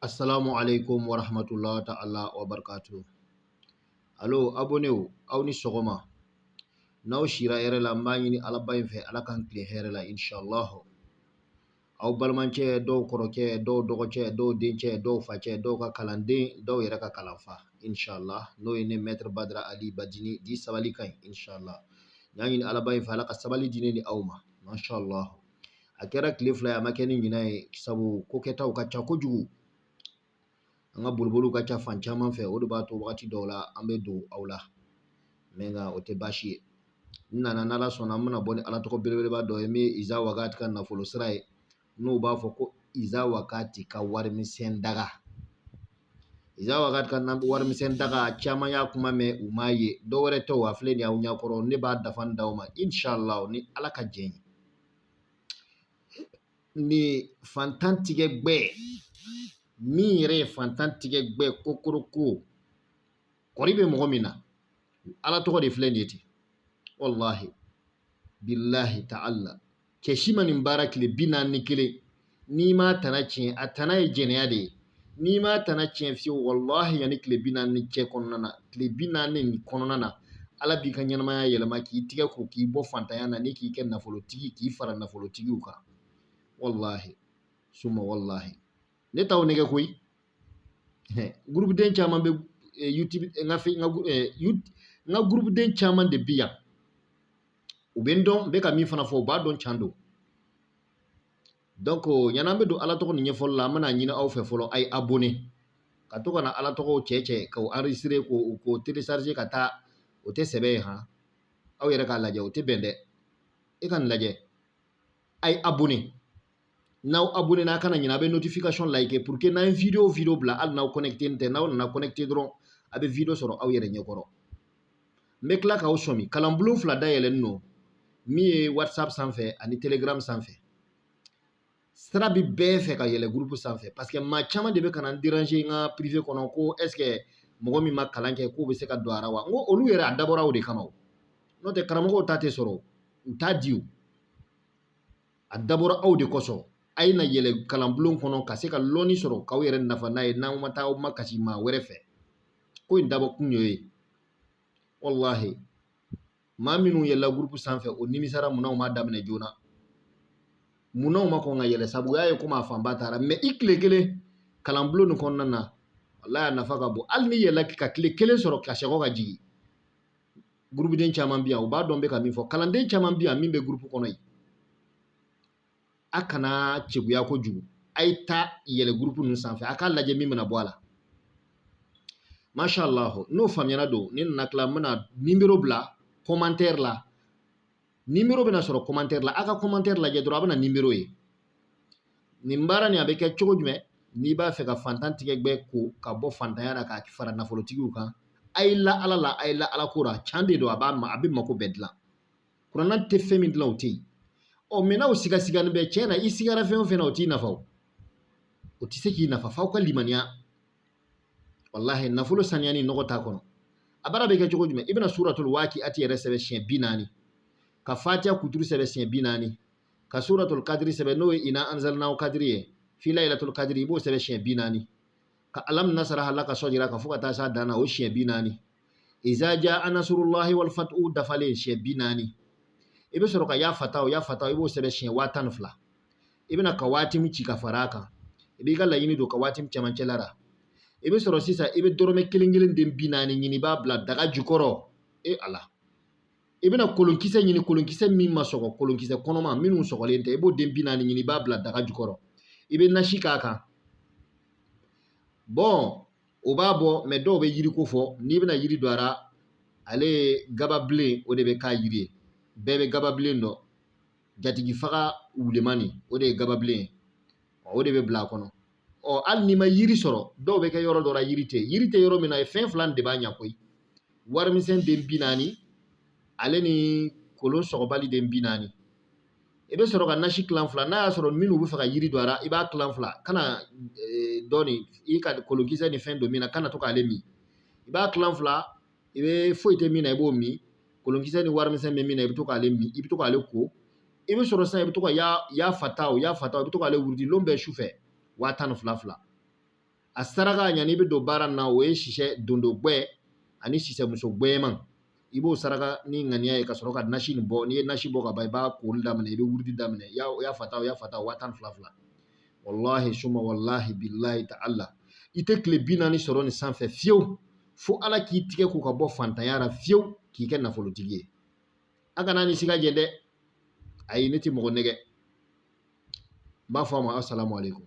Assalamu alaikum wa rahmatullahi ta'ala wa barkatu. Alo, abonew, aw ni sɔgɔma. N'aw sira hɛrɛ la, n b'a ɲini Ala ba in fɛ, Ala k'an tilen hɛrɛ la, inshallah. Aw balimancɛ, dɔw kɔrɔcɛ, dɔw dɔgɔcɛ, dɔw dencɛ, dɔw facɛ, dɔw ka kalanden, dɔw yɛrɛ ka kalanfa, inshallah. N'o ye ne Maître Badara Ali Badini, dit sabali ka ɲi, inshallah. N y'a ɲini Ala ba in fɛ, Ala ka sabali di ne ni aw ma, mashallah. a kɛra tile fila ye a ma kɛ ni ɲina ye sabu ko kɛtaw ka ca kojugu an ka boliboliw ka ca fan caman fɛ o de b'a to wagati dɔw la an bɛ don aw la mais nka o tɛ baasi ye n nana n'ala sɔnna an bɛna bɔ ni ala tɔgɔ belebeleba dɔ ye min ye iza wakati ka nafolo sira ye n'u b'a fɔ ko iza wakati ka warimisɛn daga iza wakati ka warimisɛn daga caman y'a kuma mɛn u m'a ye dɔ wɛrɛ tɛ a filɛ nin y'aw ɲɛkɔrɔ ne b'a dafalen d'aw ma inshallah ni ala ka jɛn ye N'i fantan tigɛ gbɛ min yɛrɛ ye fantan tigɛ gbɛ kokoroko kɔri bɛ mɔgɔ min na ala tɔgɔ de filɛ nin ye ten walahi billahi ta'ala cɛ si ma nin baara tile bi naani ni kelen n'i m'a tana tiɲɛ a tana ye jɛnɛya de ye n'i m'a tana tiɲɛ fiyewu walahi yanni tile bi naani nin cɛ kɔnɔna na tile bi naani nin kɔnɔna na ala b'i ka ɲɛnamaya yɛlɛma k'i tigɛ ko k'i bɔ fantanya na ni k'i kɛ nafolotigi k'i fara nafolotigiw kan walahi suma walahi ne t'aw nɛgɛ koyi gurupuden caman bɛ eh, youtube eh, n ka n ka eh, n ka gurupuden caman de bi yan u bɛ n dɔn n bɛ ka min fana fɔ u b'a dɔn can don donc yann'an bɛ don ala tɔgɔ nin ɲɛfɔli la an bɛna ɲini aw fɛ fɔlɔ a ye abonné ka to ka na ala tɔgɔw cɛ cɛ k'o enregistrer k'o télécharger ka taa o tɛ sɛbɛ ye han aw yɛrɛ k'a lajɛ o tɛ bɛn dɛ e ka nin lajɛ a ye abonné n'aw abonné na a kana ɲina a bɛ notification like pour que n'an ye video o video bila hali n'aw connecté tɛ n'aw nana connecté dɔrɔn a bɛ video sɔrɔ aw yɛrɛ ɲɛkɔrɔ n bɛ tila k'aw sɔmi kalanbulon fila dayɛlɛlen don min ye whatsapp sanfɛ ani telegram sanfɛ sira bi bɛɛ fɛ ka yɛlɛ gurupu sanfɛ parce que maa caman de bɛ ka na n déranger n ka privé kɔnɔ ko est-ce que mɔgɔ min ma kalan kɛ k'o bɛ se ka don a ra wa n ko olu yɛrɛ a dabɔra o de kama o n'o tɛ karamɔgɔw ta tɛ sɔrɔ u t'a di o a dabɔra aw de kosɔn a ye na yɛlɛ kalanbulon kɔnɔ ka se ka lɔnni sɔrɔ k'aw yɛrɛ nafa n'a ye n'aw ma taa aw makasi maa wɛrɛ fɛ ko in dabɔ kun y'o ye walahi maa minnu yɛlɛla gurupu sanfɛ o nimisara munna u ma daminɛ joona munna u ma kɔn ka yɛlɛ sabu o y'a ye komi a fanba taara mais i tile kelen kalanbulon nin kɔnɔna na walahi a nafa ka bon hali n'i yɛlɛla ka tile kelen sɔrɔ ka sɛgɔ ka jigin gurupuden caman bɛ yan u b'a dɔn n bɛ ka min fɔ kalanden caman bɛ yan min bɛ gurupu kɔnɔ yen a kana cɛguya kojugu a ye taa yɛlɛ gurupu ninnu sanfɛ a k'a lajɛ min bɛna bɔ a la masha Allah n'o faamuyara don ni n nana tila n bɛna nimero bila kɔmantɛri la nimero bɛna sɔrɔ kɔmantɛri la a ka kɔmantɛri lajɛ dɔrɔn a bɛna nimero ye nin baara nin a bɛ kɛ cogo jumɛn n'i b'a fɛ ka fantan tigɛ gbɛ ko ka bɔ fantanya na ka fara nafolotigiw kan a ye la ala la a ye la ala ko la can de don a b'a ma a bɛ mako bɛɛ dilan kurana tɛ fɛn min dilan o tɛ yen ɔ mɛ n'aw sigasigani bɛ cɛn na i sigara fɛn o fɛn na o t'i nafa o o tɛ se k'i nafa f'aw ka limaniya walahi nafolo saniya ni nɔgɔ t'a kɔnɔ a baara bɛ kɛ cogo jumɛn i bɛna suratul waki'ati yɛrɛ sɛbɛn siɲɛ bi naani ka fatiha kuturu sɛbɛn siɲɛ bi naani ka suratul kadiri sɛbɛn n'o ye ina anzalinahu kadiri ye fi laylatul kadiri i b'o sɛbɛn siɲɛ bi naani ka alam nasraha laka sadraka fo ka taa s'a dan na o siɲɛ bi naani izaja anasrulahi wal fathu dafalen siɲɛ bi naani i bɛ sɔrɔ ka ya fataw ya fataw i b'o sɛbɛn siɲɛ waa tan ni fila i bɛna kawatimi ci ka fara a kan i b'i ka laɲini don kawatimi cɛmancɛ la i bɛ sɔrɔ sisan i bɛ dɔrɔmɛ kelen kelen den bi naani ɲini i b'a bila daga jukɔrɔ e ala i bɛna kolonkisɛ ɲini kolonkisɛ min ma sɔgɔ kolonkisɛ kɔnɔma minnu sɔgɔlen tɛ i b'o den bi naani ɲini i b'a bila daga jukɔrɔ i bɛ nasi k'a kan bɔn o b'a bɔ mɛ dɔw bɛ yiri ko fɔ n'i bɛna yiri don a ra ale ye gababilen o de bɛ k'a yiri ye bɛɛ bɛ gababilen dɔn jatigi faga wulenman nin o de ye gababilen ye o de bɛ bila a kɔnɔ ɔ hali n'i ma yiri sɔrɔ dɔw bɛ kɛ yɔrɔ dɔ la yiri tɛ yiri tɛ yɔrɔ min na e fɛn fila de b'a ɲɛ koyi warimisɛn den bi naani ale ni kolon sɔgɔbali den bi naani i bɛ sɔrɔ ka nasi kilan fila n'a y'a sɔrɔ minnu b'a fɛ ka yiri don a la i b'a kilan fila kana eh, dɔ nin i ka kolonkisɛ ni fɛn don min na kana to k'ale min i b'a kilan fila i bɛ foyi tɛ min na i b'o min kolonkisɛ ni warimisɛn bɛ min na i bɛ to k'ale min i bɛ to k'ale ko i bɛ sɔrɔ sisan i bɛ to ka ya fataw ya fataw i bɛ to k'ale wurudi lon bɛɛ su fɛ waa tan ni fila fila a saraka yani i bɛ don baara nin na o ye sisɛ dondo gbɛ ani sisɛmuso gbɛman i b'o saraka ni ŋaniya ye ka sɔrɔ ka nasi nin bɔ n'i ye nasi bɔ ka ban i b'a koli daminɛ i bɛ wurudi daminɛ ya ya fata ya fata waa tan ni fila fila walahi suma walahi bilahi ta'ala i tɛ tile bi naani sɔrɔ nin sanfɛ fiyewu fo ala k'i tigɛ ko ka bɔ fantanya la fiyewu k'i kɛ nafolotigi ye a kan'a ni siga jɛ dɛ ayi ne tɛ mɔgɔ nɛgɛn n b'a fɔ a ma asalaamaaleykum